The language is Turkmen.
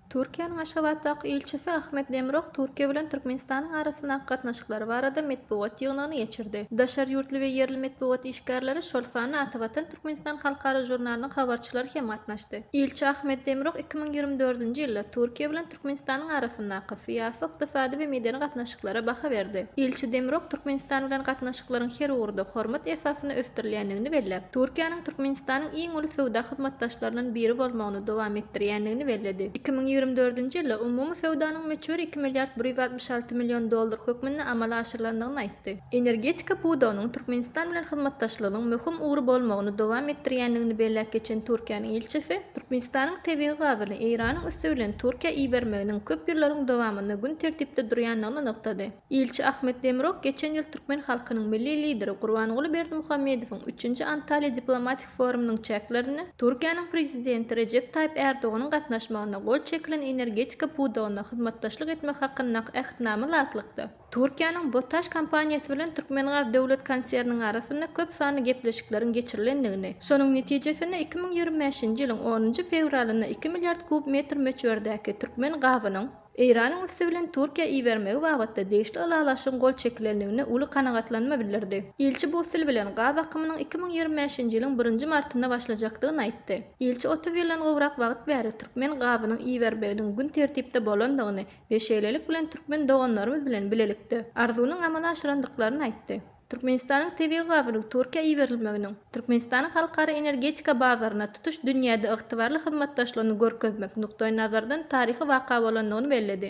Türkiýäniň Aşgabatdaky ilçisi Ahmet Demirok Türkiýe bilen Türkmenistanyň arasyndaky gatnaşyklary barada metbugat ýygnagyny geçirdi. Daşary ýurtly we ýerli metbugat işgärleri, şol sanda Atavatan Türkmenistan halkara žurnalynyň habarçylary hem gatnaşdy. Ilçi Ahmet Demirok iki müň ýigrimi dördünji ýylda Türkiýe bilen Türkmenistanyň arasyndaky syýasy, ykdysady we medeni gatnaşyklara baha berdi. Ilçi Demirok Türkmenistan bilen gatnaşyklaryň her ugurda hormat esasynda ösdürilýändigini belläp, Türkiýäniň Türkmenistanyň iň uly söwda hyzmatdaşlaryndan biri bolmagyny dowam etdirýändigini belledi. Iki müň ýigrimi dördünji ýylda umumy söwdanyň möçberi iki milliard bir ýüz altmyş alty million dollar hökmünde amala aşyrylandygyny aýtdy. Energetika pudagynyň Türkmenistan bilen hyzmatdaşlygynyň möhüm ugry bolmagyny dowam etdirýändigini belläp geçen Türkiýäniň ilçisi, Türkmenistanyň tebigy gazyny Eýranyň üsti bilen Türkiýä ibermeginiň köp ýyllaryň dowamynda gün tertipde durýandygyny nygtady. Ilçi Ahmet Demirok geçen ýyl türkmen halkynyň Milli Lideri Gurbanguly Berdimuhamedowyň üçünji Antalýa diplomatik forumynyň çäklerinde Türkiýäniň Prezidenti Rejep Taýyp Ärdoganyň gatnaşmagynda gol çekilen energetika pudagynda hyzmatdaşlyk etmek hakyndaky Ähtnama laýyklykda Türkiýäniň BOTAŞ kompaniýasy bilen Türkmengaz döwlet konserniniň arasynda köp sanly gepleşikleriň geçirilendigini, şonuň netijesinde iki müň ýigrimi bäşinji ýylyň onunjy fewralynda iki milliard kub metr möçberdäki türkmen gazynyň Eýranyň üsti bilen Türkiýä ibermegi babatda degişli ylalaşygyň gol çekilendigine uly kanagatlanma bildirdi. Ilçi Bussel bilen gaz akymynyň iki müň ýigrimi bäşinji ýylyň birinji martynda başlajakdygyny aýtdy. Ilçi otuz ýyldan gowrak wagt bäri türkmen gazynyň iberbeginiň gün tertipde bolandygyny, we şeýlelik bilen türkmen doganlarymyz bilen bilelikde arzuwyny amala aşyrandyklaryny aýtdy. Türkmenistanyň tebigy gazynyň Türkiýä iberilmeginiň Türkmenistanyň halkara energetika bazaryna tutuş dünýäde ygtybarly hyzmatdaşlygyny görkezmek nukdaýnazardan taryhy waka bolandygyny belledi.